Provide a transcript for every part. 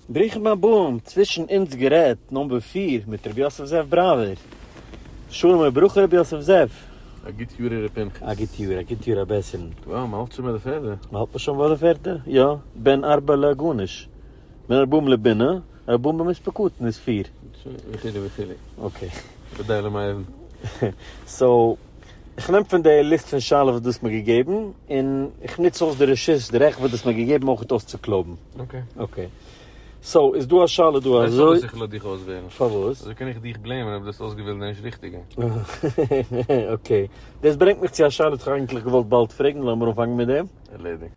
ברוכים הבאים, צווישן אונז גערעדט, נאמבער פֿיר, מיט רבי יוסף זאב בראווער. שלום וברכה רבי יוסף זאב. א גוט יאר ר' פנחס. א גוט יאר, א גוט יאר ר' בעסער'ן. וואו, מ'האלט שוין ביי די פערדע? מ'האלט מיר שוין ביי די פערדע, יא, בן ארבע לעגונות, בן ארבעים לבינה, ארבעים במספר קטן איז פיר. וכו' וכו'. אקעי. אודאי למאיר'ן. סאו. איך נעם פון די ליסט פון שאלות וואס דו האסט מיר געגעבן, און איך נוץ אויס די רשות, די רעכט וואס דו האסט מיר געגעבן אויך אויס צו קלויבן. אקעי. אקעי. סאו, איז דא א שאלה דא אזוי. ווייסט פארוואס איך לאז דיך אויסוועלן? פארוואס? אזוי קען איך דיך בלעימען אויב דו האסט אויסגעוועלט די נישט ריכטיגע. אקעי. דאס ברענגט מיך צו א שאלה וואס איך האב אייגנטליך געוואלט באלד פרעגן, לאמיר אנפאנגען מיט דעם. ערלעדיגט.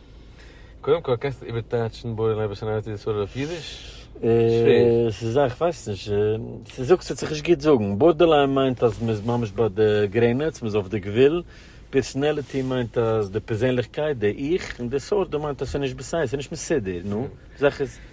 קודם כל קענסטו איבערטייטשן בורא נפש און אהבת ישראל אויף אידיש? שווער. ס'איז א כ'ווייס נישט, ס'זאגט ס'וועט זיך נישט גוט זאגן. בארדערליין מיינט אז מ'איז ממש ביי די גרעניץ, מ'איז אויף די גבול. פערסאנעליטי מיינט אז די פערזענליכקייט, די 'איך', און דיסארדער מיינט אז ס'איז נישט בסדר, ס'איז נישט מסודר, נו, זאך איז.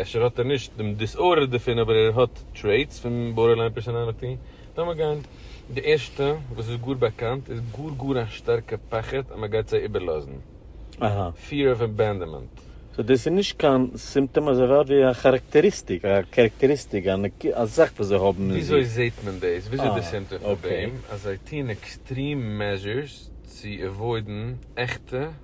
אפשר האט ער נישט דעם דיסארדער דערפון אבער ער האט טרעיטס פון בארדערליין פערסאנאליטי. לאמיר גיין. די ערשטע וואס איז גאר באקאנט איז גאר גאר א שטארקע פחד אז מען גייט זיי איבערלאזן. אהא. פיער אוו עבענדעמענט. סאו דאס איז נישט קיין סימפטאם אזוי ווייט ווי א כאראקטעריסטיק, א קערעקטעריסטיק, א נקודה, א זאך וואס זיי האבן אין זיך. וויאזוי זעהט מען דאס? וואס איז די סימפטאם פון דעם אז זיי טוהן עקסטרים מעזשורס צו עוואוידן עכטע.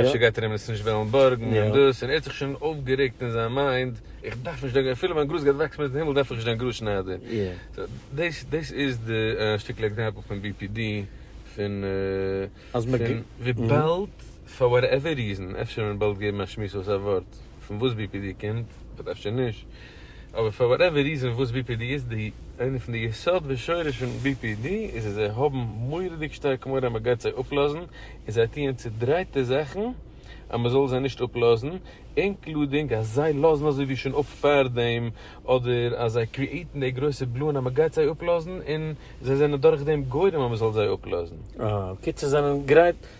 אפשר גייט ער אים עס נישט וועלן בארגן און דאס, און ער האט זיך שוין אויפגערעגט אין זיין מיינד, איך דארף נישט דעם, אפילו מיין גראז גייט וואקסן מיטן הימל דארף איך נישט דעם גראז שניידער. דאס דאס איז די שטיקל עקזעמפל פון bpd, פון וויבאלד פאר וואטעווער ריזען, אפשר ווען באלד געבן א שמועס אויס א ווארט. פון וואס bpd קומט, אדער אפשר נישט, אבער פאר וואטעווער ריזען וואס bpd איז, די איינע פון די יסוד ושורש פון bpd איז אז זיי האבן מורא'דיג שטארק מורא אז מען גייט זיי אפלאזן, און זיי טוען צודרייטע זאכן אז מען זאל זיי נישט אפלאזן, אינקלודינג אז זיי לאזן אזוי ווי שוין אפ פארדעם, אדער אז זיי קריעיטן די גרויסע בלאן אז מען גייט זיי אפלאזן, און זיי זענען דורכדעם גורם אז מען זאל זיי אפלאזן. אה, קיצור זיי זענען גרייט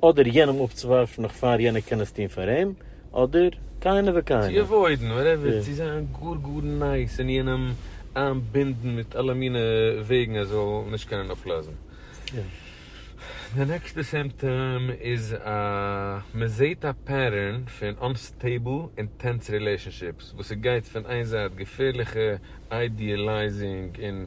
אדער יענעם אפצוווארפן נאך פאר יענער קען עס טון פאר אים, אדער כהנה וכהנה. צו עוואוידן, וואטעווער, צו זיין גאר גאר נייס און יענעם איינבינדן מיט אלע מיני וועגן ער זאל נישט קענען אפלאזן. די נעקסטע סימפטאם איז אז מען זעהט א פעטערן פון אנסטעיבל און טענס רילעישאנשיפס וואס ס'גייט פון איין זייט געפערליכע איידיעלייזינג און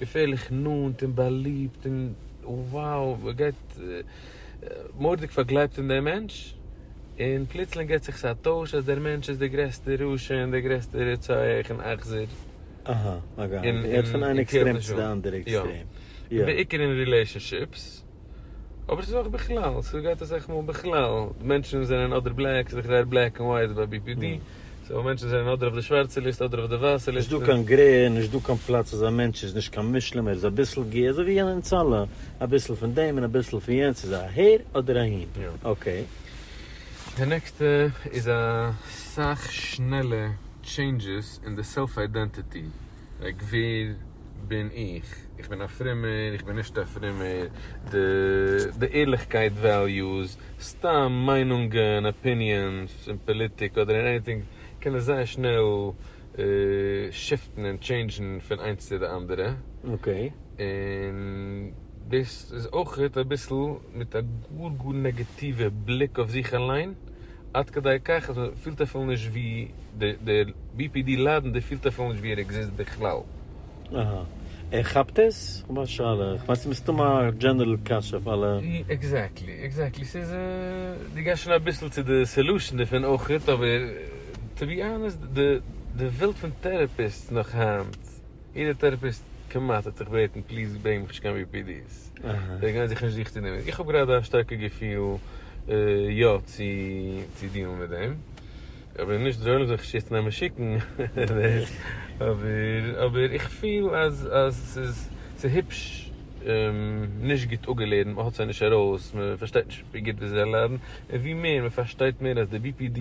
געפערליך נאנט און באליבט און wow מען גייט מורא'דיג פארגלייבט אין דעם מענטש און פלוצלינג געט זיך עס א טויש אז דער מענטש איז דער גרעסטער רשע און דער גרעסטער רוצח און אכזר. אהא, מען גייט פון איין עקסטרעם צו די אנדערע עקסטרעם. בעיקר אין רילעישאנשיפס. אבער ס'איז אויך בכלל, ס'גייט אסאך מאל בכלל, מענטשן זענען אדער בלעק, ס'איז דאך זייער בלעק און ווייט ביי BPD, סאו מענטשן זענען אדער אויף די שווארצע ליסטע אדער אויף די ווייסע ליסטע. נישט דא קיין גרעי, נישט דא קיין פלאץ אז א מענטש איז נישט קיין מושלם, ער איז אביסל געי, אזוי ווי אונז אלע, אביסל פון דעם און אביסל פון יענץ, ס'איז אהער אדער אהין. אקעי. די נעקסטע איז אסאך שנעלע טשעינדזשעס אין די סעלף איידענטיטי. לייק ווער בין איך? איך בין א פרומער? איך בין נישט א פרומער? די ערליכקייט וועליוס, סתם מיינונגען, אפיניענס, אין פאליטיק אדער אין עניטינג קען עס זייער שנעל שיפטן און טשעינדזשן פון איינס צו די אנדערע. און דאס איז אויך אביסל מיט א גאר גאר נעגאטיווע בליק אויף זיך אליין. עד כדי כך אז מען פילט אפילו נישט ווי די בי פי די ליידן די פילט אפילו נישט ווי ער עקזיסט בכלל. אהא. ער כאפט עס? כ'האב א שאלה. כ'מיין ס'איז מסתמא א דזשענערל קשיא אויף אלע. עקזעקטלי, עקזעקטלי. ס'איז דו גייסט שוין אביסל צו די סעלושען דערפון אויכעט, אבער טו בי אנעסט די וועלט פון טערעפיסטס נאך היינט. יעדער טערעפיסט כמעט האט זיך בעטן פליז ברענג מיך נישט קיין BPD's, זיי גייען זיך נישט זיך צו דערמיט, איך האב גראדע א שטארקע געפיל יא צו דינען מיט דעם, אבער נישט זיי וועלן זיך נישט יעצט נעמען שיקן, אבער איך פיל אז ס'איז היפש נישט גוט אפגעלערנט, מ'האט זיי נישט ארויס, מ'פארשטייט נישט ווי גוט וויאזוי זיי ליידן, און ווי מער מ'פארשטייט מער אז די BPD,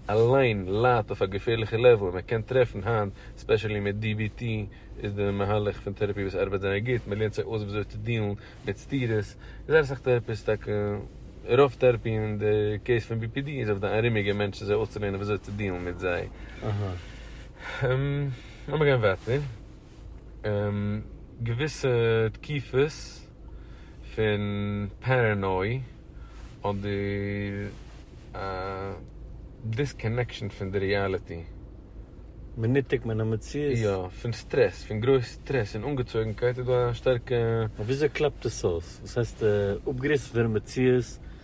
אליין ליידט אויף א געפערליכע לעוול און מען קען טרעפן היינט ספעשעלי מיט DBT איז די מהלך פון טערעפי וואס ארבעט זייער גוט מען לערנט זיי אויס וויאזוי צו דיעלן מיט סתירות זייער אסאך טערעפיסט טאקע רוב טערעפי אין די קעיס פון BPD איז אויף די ארומיגע מענטשן זיי אויסצולערנען וויאזוי צו דיעלן מיט זיי. לאמיר גיין ווייטער. געוויסע תקיפות פון פערענוי אדער א דיסקאנעקשאן פון די ריעליטי. מנותק מן המציאות. יא, פון סטרעס, פון גרויס סטרעס און אנגעצויגנקייט איז דא א שטארקע. אבער וויאזוי קלאפט עס אויס? וואס הייסט אפגעריסן פונעם מציאות?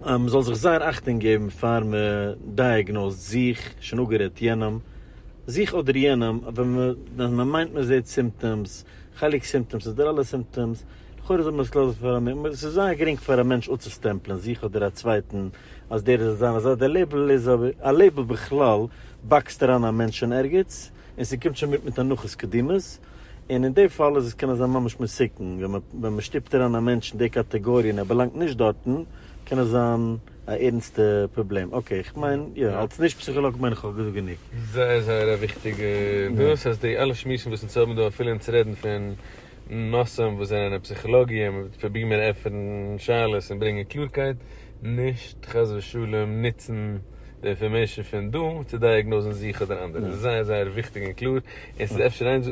מען זאל זיך זייער אכטונג געבן פאר מען דייעגנאוזט זיך, שוין אפגערעדט יענעם, זיך אדער יענעם, ווען מען מיינט מען זעט סימפטאמס, חלק סימפטאמס אדער אלע סימפטאמס, לכאורה זאל מען עס לאזן פאר א מ מ, עס איז זייער גרינג פאר א מענטש אפצוסטעמפלען זיך אדער א צווייטן אז דער איז אזא און אזא, דער לעיבל איז אבער, א לעיבל בכלל באקסט אריין א מענטש אין ערגעץ, און ס'קומט שוין מיט מיט הנחות קדימות. און אין די פאל איז עס קען עס זיין ממש מסוכן, ווען מען ווען מען שטופט אריין א מענטש אין די קאטעגאריע און ער באלאנגט נישט דארטן, קען עס זיין א ערנסטע פראבלעם. אקעי, איך מיין, יא, אלס נישט פסיכאלאג מיין איך איך האב געזאגט גענוג. זייער זייער א וויכטיגע דאס אז די אלע שמועסן וואס אונז האבן דא אפילו אונז רעדן פון נושאים וואס זענען אין פסיכאלאגיע, מ'וועט פרובירן מער עפענען שאלות און ברענגען קלארקייט, נישט חס ושלום נוצן די אינפארמעישן פון דא צו דייעגנאזן זיך אדער אנדערע, עס איז זייער זייער וויכטיג און קלאר, און עס איז אפשר איין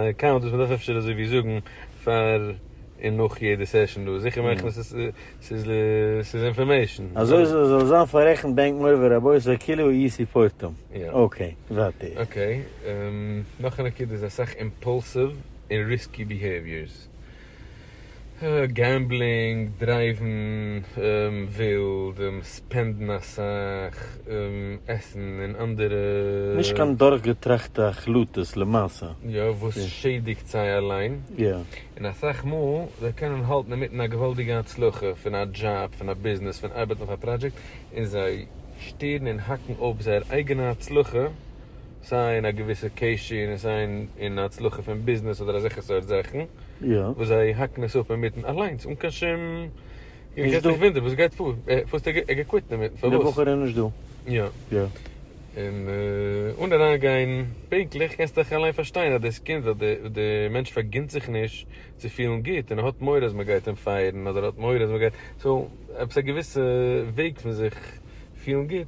אקאונט וואס מען דארף אפשר אזוי ווי זאגן פאר און נאך יעדע סעשאן דא, זיכער מאכן אז עס איז אינפארמעישן. אזוי זאל זאל זיין פאררעכנט בענק מורי ורבותי כאילו אי סיפורתם. אקעי, ווייטער. אקעי, נאך א נקודה איז אסאך אימפאלסיוו און ריסקי ביהעיוויערס. געמבלינג, דרייוון ווילד, ספענדן אסאך, עסן און אנדערע. נישט קיין דורכגעטראכטע החלטות למעשה. יא, וואס שעדיגט זיי אליין. און אסאך מאל זיי קענען האלטן אינמיטן א געוואלדיגע הצלחה פון א דזשאב, פון א ביזנעס, פון ארבעטן אויף א פראדזשעקט, און זיי שטערן און האקן אפ זייער אייגענע הצלחה, סיי אין א געוויסע קעשי און סיי אין הצלחה פון ביזנעס אדער אזעלכע סארט זאכן וואס זיי האקן עס אפ אינמיטן אליינס אן קיין שום און מ'קען זיך וואונדערן וואס גייט פאר פארסט ער איז קוויטן אינמיטן פארוואס? די בחור איז נישט דא. יא. יא. און אן אריינגיין פונקטליך קענסטו דאך אליין פארשטיין אז דאס קינד ווייל די מענטש פארגינט זיך נישט צו פילן גוט און ער האט מורא אז מ'גייט אים פייערן אדער ער האט מורא אז מ'גייט סאו עפעס א געוויסע וועג פון זיך פילן גוט.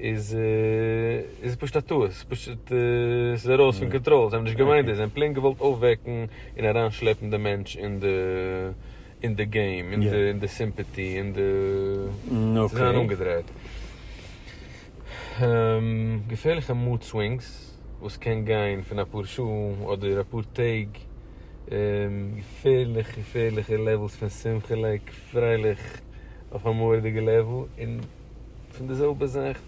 איז איז פשוט א טעות, ס'איז פשוט ס'איז ארויס פון קאנטראל, זיי האבן נישט געמיינט דאס, זיי האבן פלעין געוואלט אויפוועקן און אריינשלעפן די מענטש אין די אין די געים, אין די סימפעטי, אין די צו זיין אנגעדרייט. געפערליכע מוד סווינגס וואס קען גיין פון אפאר שעה אדער אפאר טעג, געפערליכע געפערליכע לעוועלס פון שמחה'לעק פרייליך אויף א מורא'דיגע לעוועל, און. פון די זעלבע זאך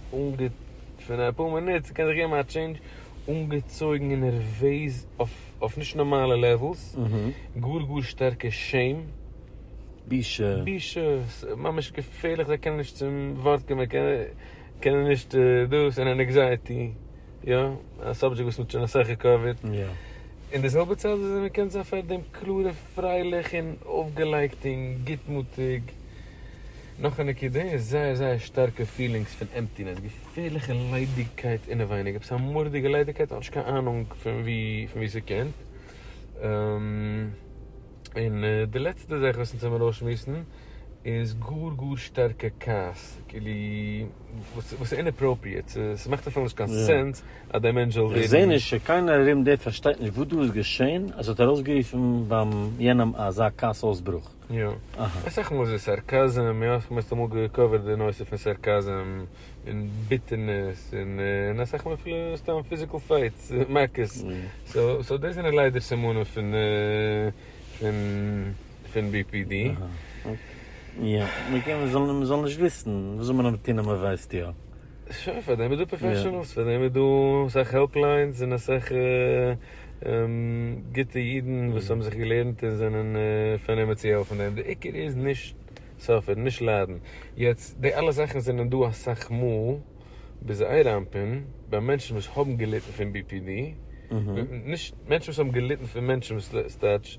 פון אפאר מינוט, ס'קען זיך געבן א טשעינדזש, אנגעצויגן און נערוועז אויף נישט נארמאלע לעוועלס, גאר גאר שטארקע שעים, בושה, בושה, ממש געפערליך זיי קענען נישט צום ווארט קומען, קענען נישט דאס, און ענעקזייעטי, יא, א סאבדזשעקט וואס מ'האט שוין אסאך געקאווערט, אין די זעלבע צייט וואס מען קען זיין פארדעם קלאר און פרייליך און אויפגעלייגט און גוטמוטיג. נאך א נקודה איז זייער זייער שטארקע פילינגס פון עמפטינעס, געפערליכע ליידיגקייט אינעווייניג, עפעס א מורא'דיגע ליידיגקייט, האט נישט קיין אהנונג פון וואו ס'קומט, און די לעצטע זאך וואס אונז האבן ארויסשמועסן איז גאר גאר שטארקע כעס, כאילו וואס איז אינאפראפריעט, ס'מאכט אפילו נישט קיין סענס אז דער מענטש זאל ווערן. איך זעה נישט צו קיינער ארום דיר פארשטייט נישט וואס דא איז געשען אז ס'האט ארויסגערופן ביים יענעם אזא כעס אויסברוך. יא. אסאך מאל איז עס סארקאזם, יא, האסט מערסטע מאל געקאווערט די נושא פון סארקאזם, און ביטערנעס, און און אסאך מאל אפילו סתם פיזיקל פייטס, מכות. סאו, סאו דאס זענען ליידער סימנים פון פון פון בי פי די. אהא. יא. מ'קען, מ'זאל, מ'זאל נישט וויסן, וואס זאל מען אבער טון אז מ'ווייסט יא? שוין, פאר דעם איז דא פראפעשענעלס, פאר דעם איז דא אסאך העלפ ליינס און אסאך גוטע אידן וואס האבן זיך געלערנט און זענען פארנומען צו העלפן דעם, די עיקר איז נישט סאפערן, נישט ליידן. יעצט, די אלע זאכן זענען דא אסאך מאל ביז אייראנפען ביי מענטשן וואס האבן געליטן פון BPD, נישט מענטשן וואס האבן געליטן פון מענטשן וואס סטייטש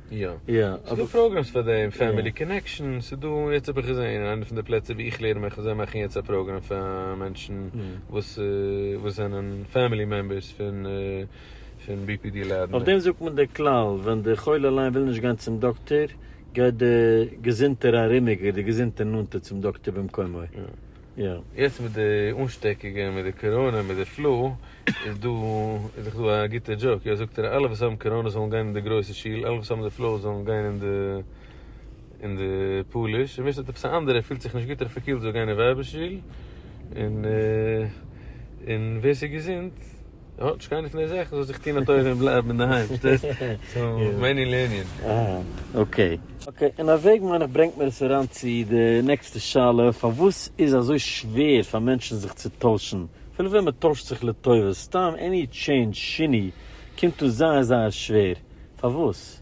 יא, ס'איז דא פראגרעמס פאר דעם, פעמילי קאנעקשאן, ס'איז דא, יעצט האב איך געזען אין איינע פון די פלעצער ווי איך לערן מיך, זיי מאכן יעצט א פראגרעם פאר מענטשן וואס וואס זענען פעמילי מעמבערס פון פון BPD לאדענער. אויף דעם זאגט מען דער כלל, ווען דער חולה אליין וויל נישט גיין צום דאקטער, גייט דער געזונטער ארומיגער, דער געזונטער נאנטער צום דאקטער במקומו. יעצט מיט די אנשטעקונגען מיט די קאראנע מיט די פלו איז דא איז דאך דא א גוטע דזשאוק יאר זאגט ער אלע וואס האבן קאראנע זאלן גיין אין די גרויסע שול אלע וואס האבן די פלו זאלן גיין אין די אין די פאליש און ווער ס'האט עפעס א אנדערע פילט זיך נישט גוט אדער פארקילט זאל גיין אין ווייבער שול און און ווער ס'איז געזונט יא, נישט קיינער פון די זעכצן זאל זיך טון א טובה און בלייבן אינדערהיים, שטייסט? סאו, מענין לענין. אהא, אקעי. אקעי, און א וועג מיין איך ברענגט מיר עס אריין צו די נעקסטע שאלה, פארוואס איז אזוי שווער פאר מענטשן זיך צו טוישן? אפילו ווען מען טוישט זיך לטובה, סתם עני טשעינדזש, שיני, קומט אן זייער זייער שווער. פארוואס?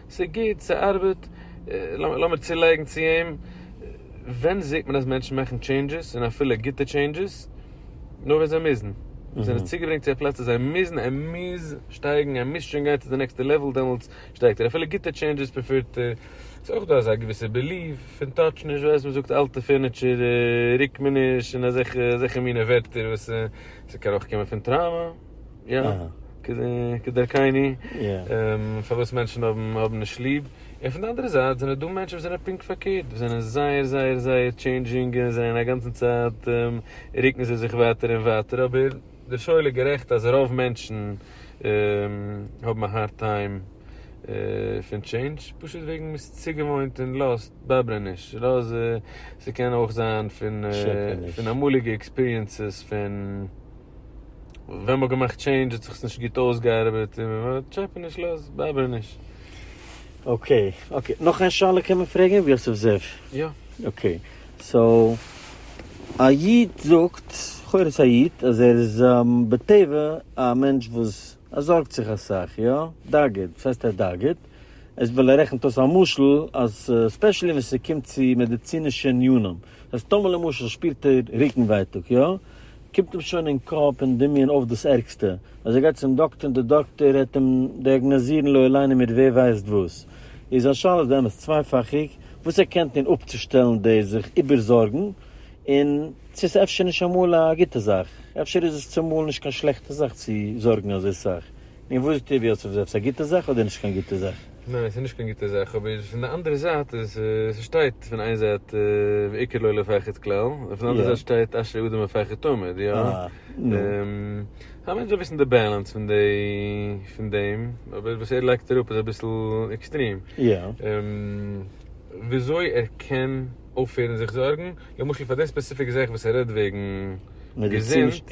ס'איז גוט, ס'ארבעט, לאמיר צולייגן צו אים, ווען זעט מען אז מענטשן מאכן טשעינדזשעס און אפילו גוטע טשעינדזשעס? נאר ווען זיי מוזן. זיי זענען צוגעברענגט צו א פלאץ אז זיי מוזן, ער מוז שטייגן, ער מוז שוין גיין צו די נעקסטע לעוועל, דעמאלטס שטייגט ער, אפילו גוטע טשעינדזשעס פריפערט ער. ס'איז אויך דא אזא געוויסע בעליוו פון טאטש נישט, ווייסט מען זאגט אלטע פערניטשער רוקט מען נישט און אזעלכע מינע ווערטער וואס ס'קען אויך קומען פון טראומא. יא, כדרכיני, פארוואס מענטשן האבן נישט ליב, און פון די אנדערע זייט זענען דא מענטשן וואס זענען פונקט פארקערט, וואס זענען זייער זייער זייער טשעינדזשינג, און זענען א גאנצן צייט רוקן זיי זיך ווייטער און ווייטער, אבער דער שואל איז גערעכט אז רוב מענטשן האבן א הארד טיים פון טשעינדזש, פשוט וועגן מען איז צוגעוואוינט און לאסט באבערען נישט, לאז ס'קען אויך זיין פון אמאליגע עקספיריענסעס פון. ווען מ'האט געמאכט טשעינדזש האט זיך עס נישט גוט אויסגעארבעט און מ'וועט טשעפען נישט לאז באבער נישט. אקעי אקעי נאך איין שאלה קען מען פרעגען ר' יוסף זאב? יא. אקעי סאו א איד זאגט לכאורה ס'איז א איד אז ער איז בטבע א מענטש וואס ער זארגט זיך אסאך יא דאגה דאס הייסט ער דאגה'ט עס וויל ער רעכנט אויס א משל אז ספעשעלי ווען ס'קומט צו מעדעצינישע עניינים אז טאמער למשל שפירט ער רוקן ווייטאג יא. קומט אים שוין אין קאפ און דמיון אויף דאס ערגסטע, אז ער גייט צום דאקטער און דער דאקטער העט אים דיאגנאזירן לא עלינו מיר ווער ווייסט וואס, איז זיין שאלות באמת צווייפאכיג, וואס ער קען טון אפצושטעלן דאס זיך איבערזארגן, און צו עס אפשר נישט אמאל א גוטע זאך, אפשר איז עס צומאל נישט קיין שלעכטע זאך צו זארגן אזוי סאך, און וואס טוט יוסף, איז עס עפעס א גוטע זאך אדער נישט קיין גוטע זאך? ניין ס'איז נישט קיין גוטע זאך אבער פון די אנדערע זייט איז ס'שטייט פון איין זייט ועיקר לא לפחד כלל און פון די אנדערע זייט שטייט אשרי אדם מפחד תמיד יא א מענטש זאל וויסן די בעלענס פון די פון דעם אבער וואס ער לייגט אראפ איז אביסל עקסטרים וויאזוי ער קען אויפהערן זיך זארגן למשל פאר די ספעסיפיק זאך וואס ער רעדט וועגן געזונט.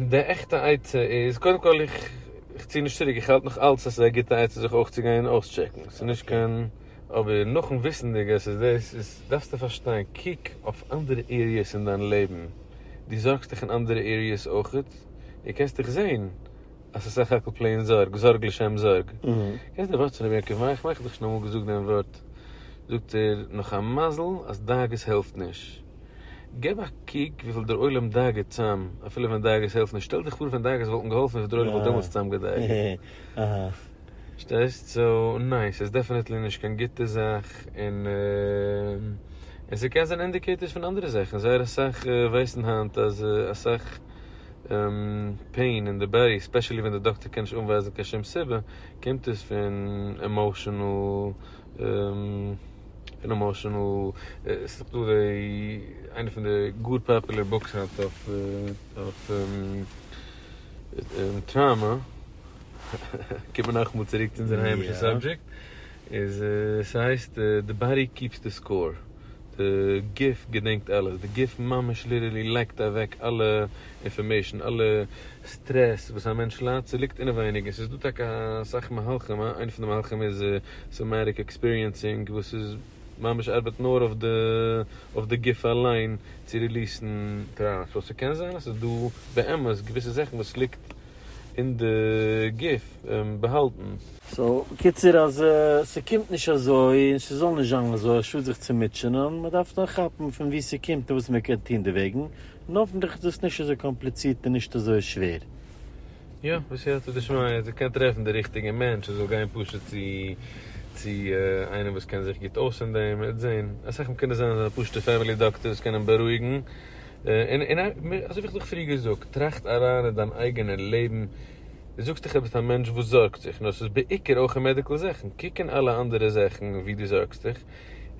די עכטע עצה איז, קודם כל איך צי נישט צוריק, איך האלט נאך אלץ אז ס'איז א גוטע עצה זיך אויך צו גיין און אויסטשעקן, ס'איז נישט קיין, אבער נאכן וויסענדיג אז ס'איז דאס, איז דארפסטו פארשטיין, קוק אויף אנדערע עריעס אין דיין לעבן, דו זארגסט דיך אין אנדערע עריעס אויכעט, דו קענסט דיך זעהן אז ס'איז סך הכל פלעין זארג, זארג לשם זארג. קענסט דיך וואטסען ר' יעקב מאיר, איך מיין איך האב דיך שוין אמאל געזאגט דעם ווארט, זאגט ער, נאך א מזל אז דאגות העלפט נישט. געב א קוק וויפיל דער עולם דאגה'ט צאם, אפילו ווען דאגות העלפן נישט, שטעל דיך פאר ווען דאגות וואלטן געהאלפן וויפיל דער עולם וואלט דעמאלטס צאם געדאגה'ט. שטייסט? סאו ניין, ס'איז דעפענעטלי נישט קיין גוטע זאך, און און ס'קען זיין אינדיקעיטארס פון אנדערע זאכן, זייער אסאך ווייסן היינט אז אסאך פעין אין די באדי, ספעשעלי ווען די דאקטער קען נישט אנווייזן קיין שום סיבה, קומט עס פון עמאושענעל. און עמאושענעל, עס איז דא די, איינע פון די גאר פאפולער בוקס היינט אויף אויף טראמא, קומען מיר נאכאמאל צוריק צו אונזער היימישע סאבדזשעקט, איז ס'הייסט די באדי קיעפס די סקאור, די גוף געדענקט אלעס, די גוף ממש ליטערלי לייגט אוועק אלע אינפארמעישן, אלע סטרעס וואס א מענטש ליידט, ס'ליגט אינעווייניג, און ס'איז דא טאקע אסאך מהלכים, איינע פון די מהלכים איז סאמעטיק עקספיריענסינג, וואס איז ממש ארבעט נאר אויף די אויף די גוף אליין צו ריליעסן טראומא, סאו ס'קען זיין אז ס'איז דא באמת געוויסע זאכן וואס ליגט אין די גוף באהאלטן. סאו בקיצור אז ס'קומט נישט אזוי, און ס'זאל נישט זיין אזוי, א שאד זיך צו מוטשענען, מ'דארף נאר כאפן פון וואו ס'קומט און וואס מ'קען טון דערוועגן, און האפענטליך איז דאס נישט אזוי קאמפליצירט און נישט אזוי שווער. יא, בסייעתא דשמיא, אז ער קען טרעפן די ריכטיגע מענטש, ער זאל גיין פשוט צו צו איינעם וואס קען זיך גוט אויס אין דעם, ער וועט זען. אסאך מאל קען עס זיין אזא פשוטע פעמילי דאקטער וואס קען אים בארואיגן. און און אזוי ווי איך זיך פריער געזאגט, טראכט אריין אין דיין אייגענע לעבן, דו זאגסט דיך אז דו ביסט א מענטש וואס זארגט זיך, נאר ס'איז בעיקר אויך אין מעדיקל זאכן, קוק אין אלע אנדערע זאכן ווי דו זארגסט דיך,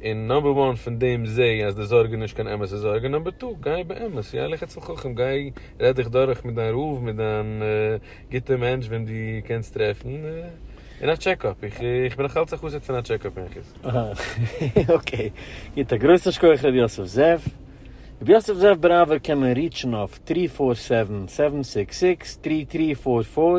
און נאמבער וואן פון דעם זע אז די זארג איז נישט קיין אמת'ע זארג, און נאמבער טו גיי באמת ילך אצל חכם, גיי רעד דיך דורך מיט דיין רב, מיט דיין גוטע מענטש וועם דו קענסט טרעפן, און א טשעק אפ, איך בין נאך אלץ א חסיד פון א טשעק אפ אין חוץ. אהא אקעי גוט א גרויסן שכח ר' יוסף זאב. ר' יוסף זאב בראווער קען מען ריטשן אויף טרי פאר סעווען סעווען סיקס סיקס טרי טרי פאר פאר.